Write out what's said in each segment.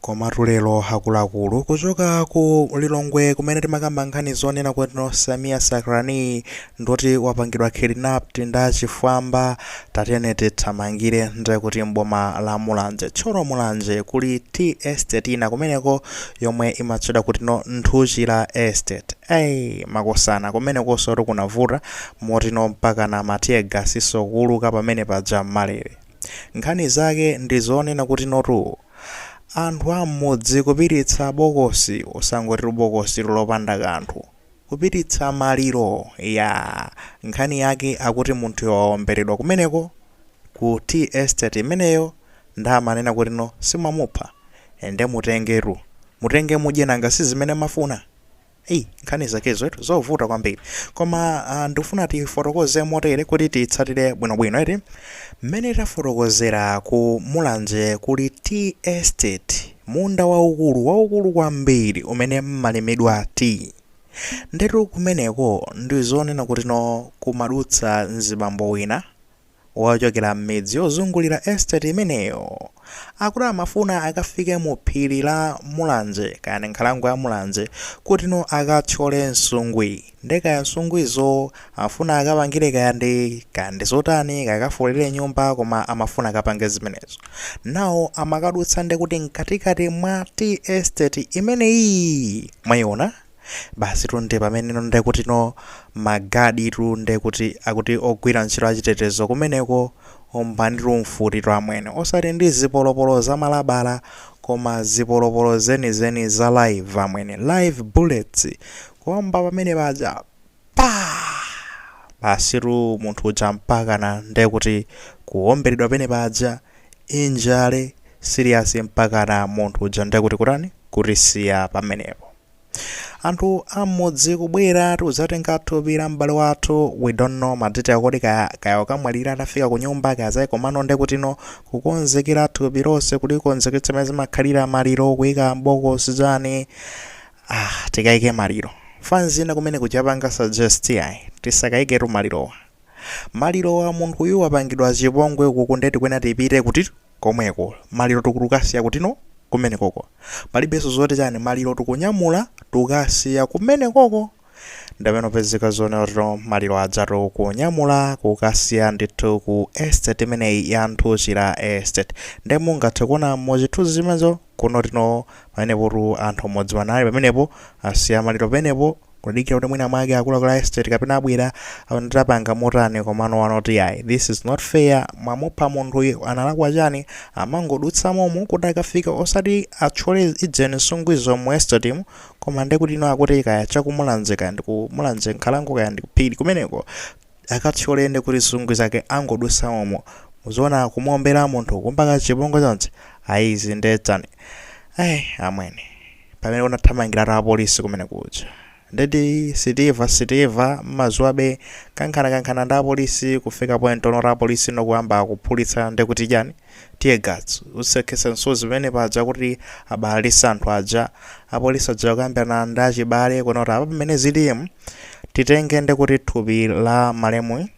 Komatu lero akuluakulu kuchoka ku Lilongwe kumene timakamba nkhani zonena kuti no Sameer Sacranie ndoti wapangidwa kidnapped ndi achifwamba tatiyeni tithamangire nde kuti m'boma la Mulanje Thyolo Mulanje kuli tea estate ina kumeneko yomwe imatchedwa kuti no Nthuchira estate ei makosana kumenekonso kuti kunavuta moti no mpaka na matear gas so kuuluka pamene paja m'malere Nkhani zake ndi zonena kuti notu anthu a m'mudzi kupititsa bokosi osangotitu bokositu lopanda kanthu. Kupititsa maliro yaa! Nkhani yake akuti munthuyo waomberedwa kumeneko ku tea estate imeneyo nde amanena kuti no si mwamupha nde mutengetu. Mutenge mudye nanga si zimene mmafuna? Ei, nkhani zakezo etu zovuta kwambiri koma ah, ndikufuna tifotokoze motere kuti titsatire bwinobwino eti mmene tafotokozera ku mulanje kuli tea estate munda waukulu waukulu kwambiri umene mmalimidwa tea ndetu kumeneko ndizonena kuti no kumadutsa mzibambo wina wochokera m'midzi yozungulira estate imeneyo, akuti amafuna akafike mu phiri la Mulanje, kaya ndi nkhalango ya Mulanje, kutino akathyole nsungwi. Ndiye kaya nsungwizo afuna akapangire kaya ndi kaya ndi zotani, kaya akafolere nyumba koma amafuna akapange zimenezo. Nawo amakadutsa ndiye kuti mkatikati mwa tea estate imeneyi. Mwayiona? Basitu nde pamene no nde kuti no magaditu nde kuti akuti ogwira ntchito achitetezo kumeneko ombanitu mfutitu amwene osati ndi zipolopolo za malabala koma zipolopolo zenizeni za live amwene live bullets kuomba pamene paja pa basitu munthu uja mpakana nde kuti kuomberedwa pamene paja injury serious mpakana munthu uja nde kuti kutani kutisiya pamenepo anthu am'mudzi kubwera tikuzatenga thupi la m'bale wathu we don't know madetail kodi kaya kaya wakamwalira atafika ku nyumba kaya zayi komano nde kutino kukonzekera thupi lonse kulikonzeketsa mmene zimakhalira maliro kuyika m'bokosi zani ah tikayike maliro fanzi ina kumene kuzapanga suggest ayi tisakayiketu malirowa maliro wa munthuyu wapangidwa chipongwe ukuku nde tikuyenera tipite kuti komweko maliro tikukasiya kutino kumenekoko palibeso zoti chani maliro tikunyamula tikasiya kumenekoko ndipamene kupezeka zonena kutino maliro ajatu kunyamula kukasiya ndithu ku estate imeneyi ya nthuchira estate nde mungathe kuona muchithunzi chimenecho kunoti no pamenepotu anthu amudziwa anali pamenepo asiya maliro pamenepo kudikira kuti mwina mwake akuluakulu a estate kapena abwera aona kuti apanga motani komano wanoti yayi this is not fair mwamupha munthuyu analakwa chani amangodutsa momo kuti akafika osati atchole ujeni nsungwizo mu estate mu koma ndekuti ino akuti kaya chakumulanje kaya ndikumulanje nkhalango kaya ndikuphiri kumeneko akathyole ndekuti nsungwi zake angodutsa momo zoona kumuombera munthu kumpanga chipongwe chonse ayi izi nde chani ai amwene pamene anathamangiratu apolisi kumene kuja ndithu still still mmadziwa abe kankhanakankhana ndi apolisi kufika point yonoti apolisi nokuyamba kuphulitsa ndekuti chani Tear gas, utsi okhetsa misozi pamene paja kuti abalalise anthu aja. Apolisi aja kukambirana ndi achibale kunoti apa pamene zilimu titenge ndekuti thupi la malemuyi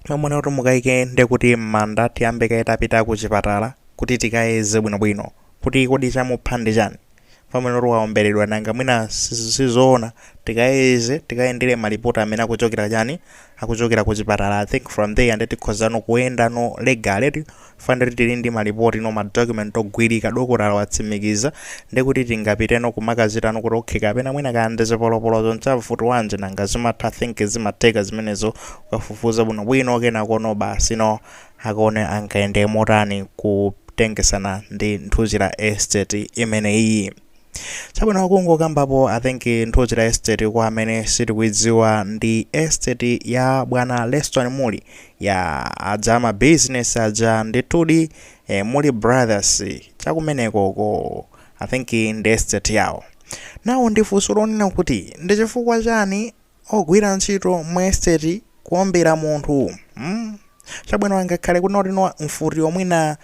amwene kuti mukaike ndekuti m'manda tiyambe kaye tapita ku chipatala kuti tikayeze bwinobwino kuti kodi chamupha ndi chani. Mwanatu waomberedwa nanga mwina si- sizoona tikayeze tikayendere malipoti amene akuchokera chani akuchokera ku chipatala i think from there nde tikhozano kuyendano legally chifukwa choti tili ndi malipoti no ma document ogwirika dokotala watsimikiza nde kuti tingapiteno kumakachitano kuti okay kapena mwina kaya ndi zipolopolozo ndi za mfuti yanji nanga zimatha I think zimatheka zimenezo ukafufuza bwinobwino kenakono basi no Akaone akayende motani kutengetsana ndi Nthuchira estate imeneyiyi. Chabwino kungokambapo I think Nthuchira estate kwa amene sitikuidziwa ndi estate ya bwana Leston Muli ya a za ma business aja ndithudi eh, Muli Brothers chakumenekoko I think ndi estate yawo. Nawo ndifunso lonena kuti ndi chifukwa chani Ogwira ntchito mu estate kuombera munthu mm? Chabwino angakhale kunoti no mfuti mwina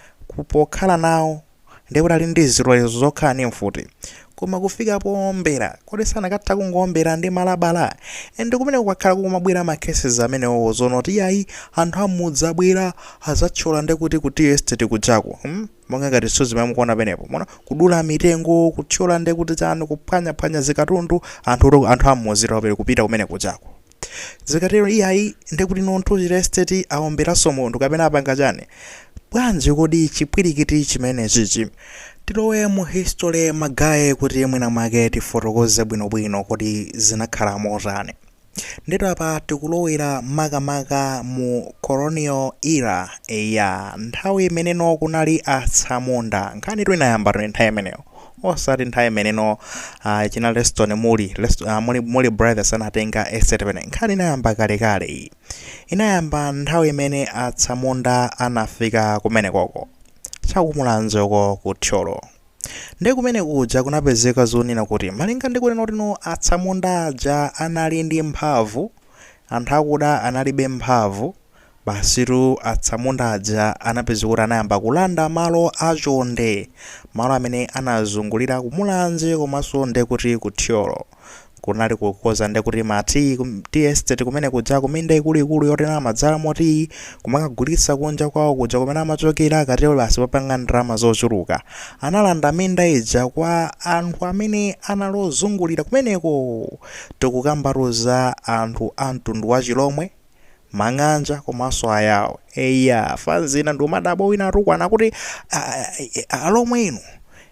pokhala nawo ndiye kuti ali ndi zilolezo zokhala ndi mfuti koma kufika poombera kodi sanakatha kungoombera ndi malabala and kumene kwakhala kukumabwera ma cases amenewowo zonoti iyayi anthu amudzi abwera adzathyola ndekuti ku tea estate kujako hmm? monga ngati zithunzi zomwe mukuona penepo mona kudula mitengo kuthyola nde kuti chani kuphwanya phwanya zikatundu anthu to- anthu am'mudzi apereke kupita kumene kujako zikatero iyayi nde kuti no Nthuchira estate aomberanso munthu kapena apanga chani bwanji kodi chipwirikiti chimenechichi tilowe mu history magaye kuti mwina mwake tifotokoze bwinobwino kuti zinakhala motani Ndiyetu apa tikulowera makamaka mu colonial era ya nthawi imeneno kunali atsamunda nkhani itu inayamba tu nthawi imeneyo osati nthawi imeneno uh, china leston muli Lest, uh, muli, muli brothers anatenga estate pene nkhani inayamba kalekale iyi inayamba nthawi imene atsamunda anafika kumenekoko chakumulanjeko ku thyolo Ndi kumene kuja kunapezeka zonena kuti malinga ndi kunena kuti no atsamunda aja anali ndi mphamvu, anthu akuda analibe mphamvu, basitu atsamunda aja anapezeka kuti anayamba kulanda malo achonde, malo amene anazungulira ku Mulanje komanso ndiye kuti ku Thyolo. kunali kukoza nde kuti ma tea kum- tea estate kumene kuja kuminda ikuluikulu yonena amadzalamo tea kumakagulitsa kunja kwawo kuja kumene amachokera akatero basi papanga ndalama zochuluka analanda minda ija kwa anthu amene anali ozungulira kumeneko tikukambatu za anthu a mtundu wa chilomwe mang'anja komanso ayao eya fans ina nde umadabwa wina akutukwana kuti "Ah, ah, eh, ah, alomwe inu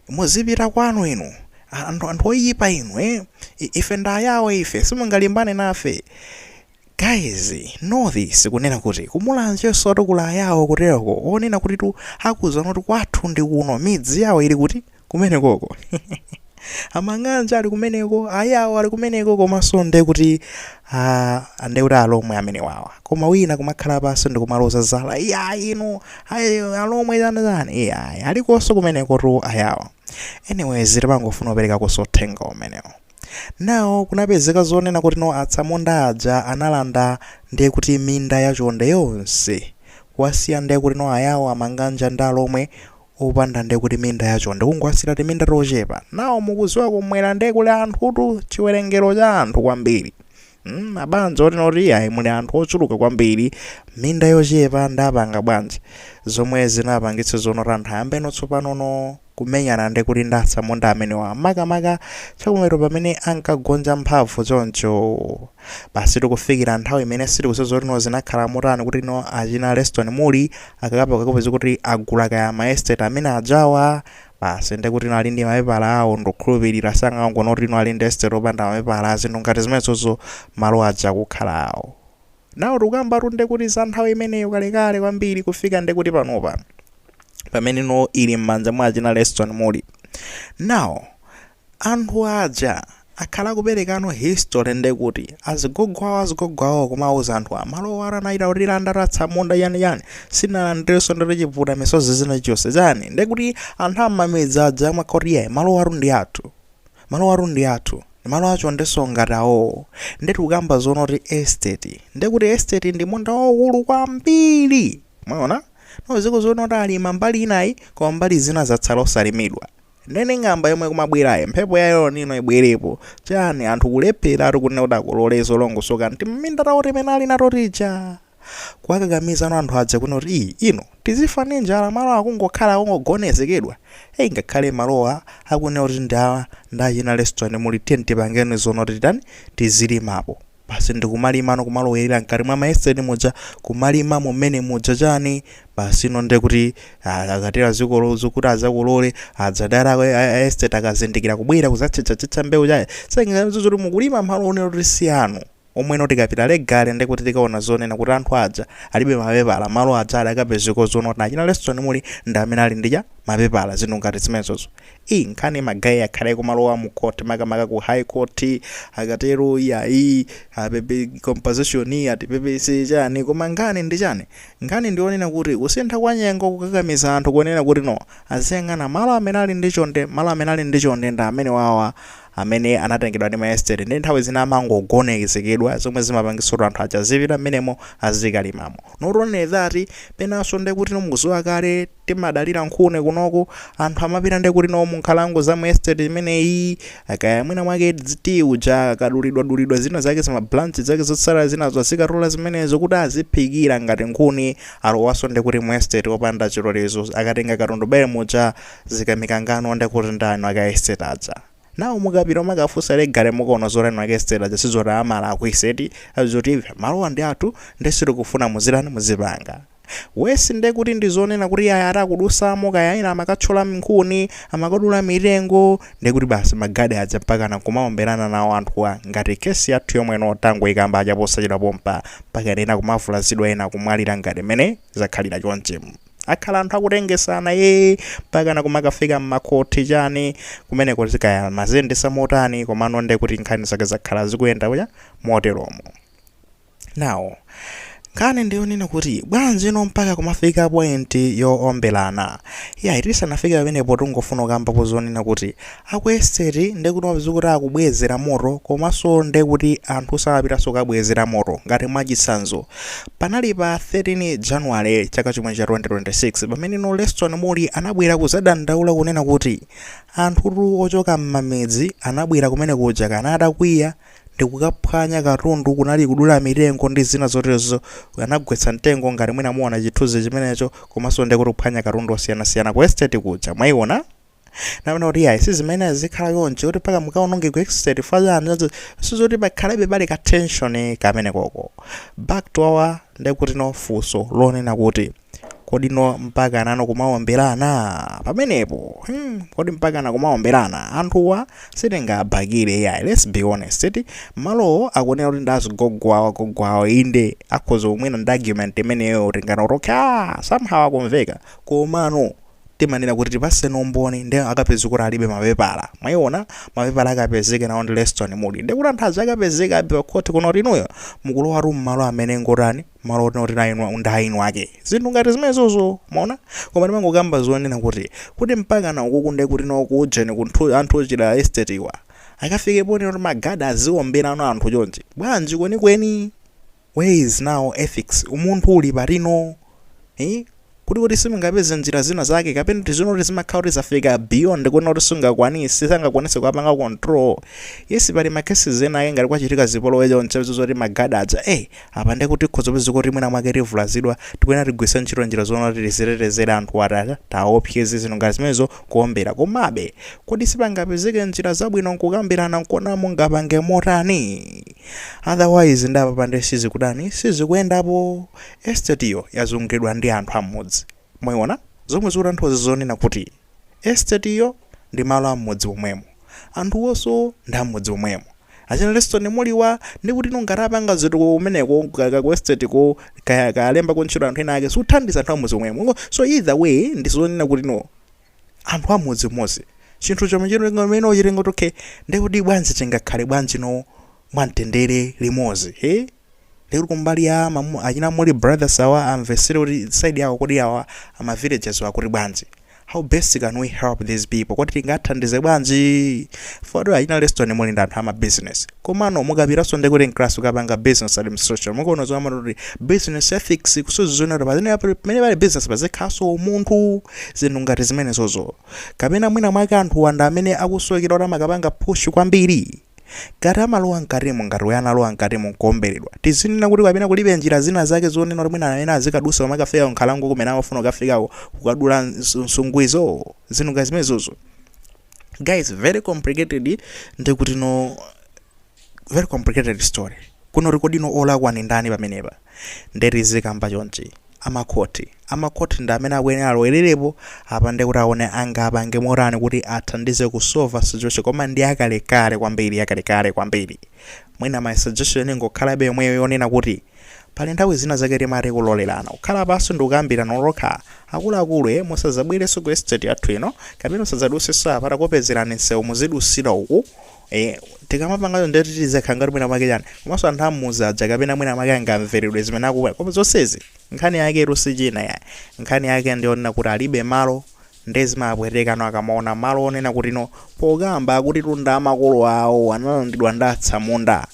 muzipita kwanu inu Ah, anthu anthu oyipa inu eh? I- ife ndi ayao ife simungalimbane nafe guys know this kunena kuti ku Mulanjensotu kuli ayawo kutereko zonena kuti tu akuzana kuti kwathu ndi kuno midzi yawo ili kuti kumenekoko amang'anja ali kumeneko ayawo ali kumeneko komanso nde kuti ah, nde kuti alomwe amene wawa koma wina kumakhala pansi ndikumaloza zala iya inu ayi alomwe zanizani iya ayi alikonso kumeneko tu ayawo anyways timangofuna kupereka uthenga umenewo nawo kunapezeka zonena kuti no atsamunda aja analanda ndiye kuti minda yachonde yonse kuwasiya ndiye kuti no ayawo amanganja ndi alomwe opanda nde kuti minda ya chonde kungowasiyira timinda tochepa nawo mukudziwa kumwera nde kuli anthutu chiwerengero cha anthu kwambiri mm, mabanja otinoti ayi muli anthu ochuluka kwambiri minda yochepa ndapanga bwanji zomwe zinapangitsa zonoti anthu ayambe no tsopanono kumenyana ndi kuti ndi atsamunda amenewa makamaka chakumero pamene ankagonja mphamvu choncho Basi tikufikira nthawi imene sitikudziwa zoti no zinakhala motani kuti no achina Leston Muli akapezekapezeka kuti agula kaya ma estate amene ajawa basi ndi kuti no ali ndi mapepala awo ndikukhulupirira sangangonena kuti no ali ndi estate opanda mapepala zinthu ngati zimenezozo malo aja kukhala awo nawo tikukambatu ndi kuti za nthawi imeneyo kalekale kwambiri kufika ndi kuti panopa pamene no ili m'manja mwa achina Leston Muli now Anthu aja akhala akuperekano history ndekuti azigogo awo azigogo awo kumauza anthu a malowa anachita kutilanda atsamunda chani chani sinalandirenso ndere chivuta misozi zina chonse chani ndekuti anthu amamidzi aja amangoti yeah malowatu ndi athu malowatu ndi athu ndimalo achondenso ngati awowo nde tikukamba zoona kuti estate ndekuti estate ndi munda waukulu kwambiri mwaona no ziko zoona kuti alima mbali inayi koma mbali zina zatsala osalimidwa Nene ng'amba yomwe kumabwerayo mphepo ya El Nino ibwerepo chani anthu kulepheratu kunena kuti akolole zolongosoka m'timinda tawo timene ali nato tija kuwakakamiza no anthu aja kunena kuti ii ino tizifa ndi njala malo akungokhala akungogonezekedwa eyi ngakhale malowa akunena kuti ndi a ndi achina Leston Muli tiyeni tipangeni zonena kuti titani tizilimapo basi ndikumalimano kumalowerera mkati mwa maestate muja kumalima mmenemuja chani basi ino nde kuti ah, akatero zikolo zokuti azakolole adzadara a- a- a estate akazindikira kubwera kuzatchetcha mbewu chaye sengazo zoti mukulima malo onena kuti si anu omwe ino tikapita legally nde kuti tikaona zonena kuti anthu aja alibe mapepala malo aja akapezeka zonena kuti achina Leston Muli ndi amene ali ndi mapepala zinthu ngati zimenezozo Iii nkhani ma guy akhala akumalowa mu court makamaka ku high court akatero iyayi apepe compensation atipepese chani koma nkhani ndi chani nkhani ndi yonena kuti kusintha kwa nyengo kukakamiza anthu kunena kuti no aziyang'ana malo amene ali ndi chonde malo amene ali ndi chonde ndi amenewawa amene anatengedwa ndi ma estate ndi nthawi zina amangogonezekedwa zomwe zimapangitsa kuti anthu aja azipita mmenemo azikalimamo not only that penanso ndekuti mukuziwa kale timadalira nkhuni kunoku anthu amapita nde kuti no munkhalango za mu estate imeneyi kaya mwina mwake dziti uja kadulidwa dulidwa zina zake zima branch zake zotsala zinazo azikatola zimenezo kuti aziphikira ngati nkhuni alowaso nde kuti mu estate opanda chilolezo akatenga katundu bele muja zikamikangano nde kuti ndani aku estate aja nawo mukapita mukafusa legally mukuona zoti nwake estate aja sizoti amala aku estate azotive malowa ndi athu nde sitikufuna muzitani muzipanga Worse nde kuti ndi zonena kuti ayi ati akudusamo kaya ena amakatchola nkhuni, amakadula mitengo nde kuti basi ma guard aja mpakana nkumaomberana nawo anthuwa ngati case yathu yomwe ino tangoikamba aja posachedwa pompa mpaka ena kumavulazidwa ena kumwalira ngati mmene zakhalira chonchi akhala anthu akutengesana ee mpakana kumakafika mmakhoti chani kumeneko kaya amaziyendetsa motani komano nde kuti nkhani zake zakhala zikuyenda moteromo. Now, nkhani ndiyonena kuti bwanji ino mpaka kumafika point yoombelana iyayi tisanafike pamenepo tingofuna kukambapo zonena kuti aku estate ndekuti mapeza kuti akubwezera moto komanso ndekuti anthu samapitanso kabwezera moto ngati mwachitsanzo panali pa 13 January chaka chomwe cha 2026 pamene no Leston Muli anabwera kuzadandaula kunena kuti anthutu ochoka m'mamidzi anabwera kumene kuja kana atakwiya ndikukaphwanya katundu kunali kudula mitengo ndi zina zoterozo anagwetsa mtengo ngati mwina muona chithunzi chimenecho komanso ndiye kuti kuphwanya katundu osiyanasiyana ku estate kuja mwaiona namena kuti iyayi sizimene zikhala chonchi kuti mpaka mukaononge ku estate fazana sizoti pakhalebe pali ka tension kamene koko back to our ndekuti no funso lonena kuti kodi no mpaka nano kumaomberana pamenepo hmm, kodi mpaka na kumaomberana anthuwa sitingabakire yayi let's be honest eti malowo akunena kuti ndi zigogwawa gogwawa inde akhoza kubwera ndi argument imeneyo tinganene kuti ah, somehow akumveka komano timanena kuti tipatseni umboni nde akapezeke kuti alibe mapepala mwayiona mapepala akapezeke nawo ndi leston muli ndekuti anthu aja akapezeka abiwa khoti kuno kuti inuyo mukulowa tu mmalo amene ngotani malo otino kuti ndi eni wake ndi eni ake zinthu ngati zimenezozo mwaona koma ndimangokamba zonena kuti kodi mpakana ukuku nde kuti no kuujeni kunthu anthu ochita estate iwa akafike ponena kuti magada aziwomberano anthu chonchi bwanji kwenikweni where is now ethics umunthu uli patino eh? kuti kodi simungapeze njira zina zake kapena tizinena kuti zimakhala kuti zafika beyond kuona kuti sungakwanise sangakwanise kuwapanga control yes pali ma cases ena ake ngati kwachitika zipolowe choncho izo zoti magada aja eh apa ndiye kuti tikhoza kupeza kuti mwina mwake tivulazidwa tikuyenera tigwiritse ntchito njira zoona kuti tizitetezere anthu atatiopseza zinthu ngati zimenezo kuombera komabe kodi sipangapezeke njira zabwino nkukambirana nkuona mungapange motani otherwise nda apapa ndiye sizikudani sizikuyendapo Esitetiyo yazunguliridwa ndi anthu a m'mudzi. Mwayiona? Zomwe zikutanthauza zonena kuti, esitetiyo ndi malo a m'mudzi momwemo. Anthuwonso ndi a m'mudzi momwemo. Achina Leston Muliwa, ndikutino ngati apanga zitukuko kumeneko ka, ka ku esteteko, kaya, kaya alembako ntchito anthu ena ake, zikuthandiza anthu a m'mudzi momwemo. Mukuona? So either way ndi zonena kutino anthu a m'mudzi umodzi. Chinthu chomwe chino chimene tichitenga kuti okay, ndiye kuti bwanji tingakhale bwanjino mwamtendere limodzi? Hee? Lija kumbali ya ma mu, achina Mulli Brothers awa amvesere kuti side yawo kodi awa ama villagers wa kuti bwanji. How best can we help these people? Kodi tingathandize bwanji? For achina Leston muli ndi anthu ama business. Komano mukapitaso ndi kuti class ukapanga business administration. Mukono zomwe amati kuti business ethics kuonetsetsa zonena kuti pazene pamene pali business pazikhalaso umunthu zinthu ngati zimenezozo. Kapena mwina mwake anthu awa nda amene akusokera kuti amakapanga push kwambiri. Ngati amalowa mkatimo, ngati uyo analowa mkatimo nkuomberedwa, tizinena kuti kapena kulibe njira zina zake zonena kuti mwina ena azikadusa kumakafika ku nkhalango kumene amafuna kukafikako kukadula ns- nsungu izo, zinthu ngati zimenezozo. Guys, very complicated ndi kuti no very complicated story. Kunena kuti kodi no olakwa ndi ndani pamenepa? Nde tizikamba chonchi. Amakhoti. Amakhoti ndi amene akuyenera alowelerepo apa nde kuti aone angapange motani kuti athandize ku solver situation koma ndi yakalekale kwambiri yakalekale kwambiri. Mwina my suggestion ingokhalabe yomweyo yonena kuti Pali nthawi zina zake timati kulolerana. Kukhala pansi ndikukambirana nokha. Akuluakulu eh musadzabwerenso ku estate yathu ino kapena musadzadutsenso apa takupezerani nsewu muzidusira uku. Eh, tikamapanga choncho ndiye kuti tizikhala ngati mwina mwake chani komanso anthu amuzi aja kapena mwina mwake angamvereredwe zimene akufuna koma zonsezi nkhani yake tu si china ayi nkhani yake ndiyonena kuti alibe malo ndiye zimapwetekano akamaona malo onena kuti no pokamba akuti minda ya makolo awo analandidwa ndi atsamunda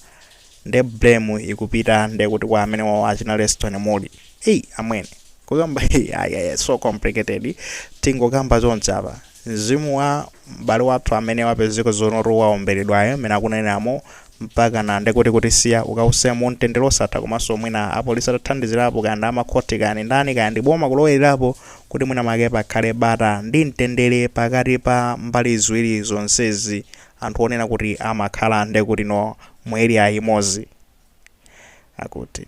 nde blame ikupita nde kuti kwa amene wawo achina Leston Muli eyi amwene kukamba ayaya so complicated tingokamba chonchi apa mzimu wa m'bale wathu amene wapezeka zoonatu waomberedwayo amene akunenamo mpaka na ndekuti kutisiya ukausa mu mtendere osatha komanso mwina apolisi atathandizirapo kaya ndi amakhoti kaya ndi ndani kaya ndi boma kulowererapo kuti mwina make pakhale bata ndi mtendere pakati pa mbali ziwiri zonsezi anthu onena kuti amakhala ndekuti no mu area imodzi akuti.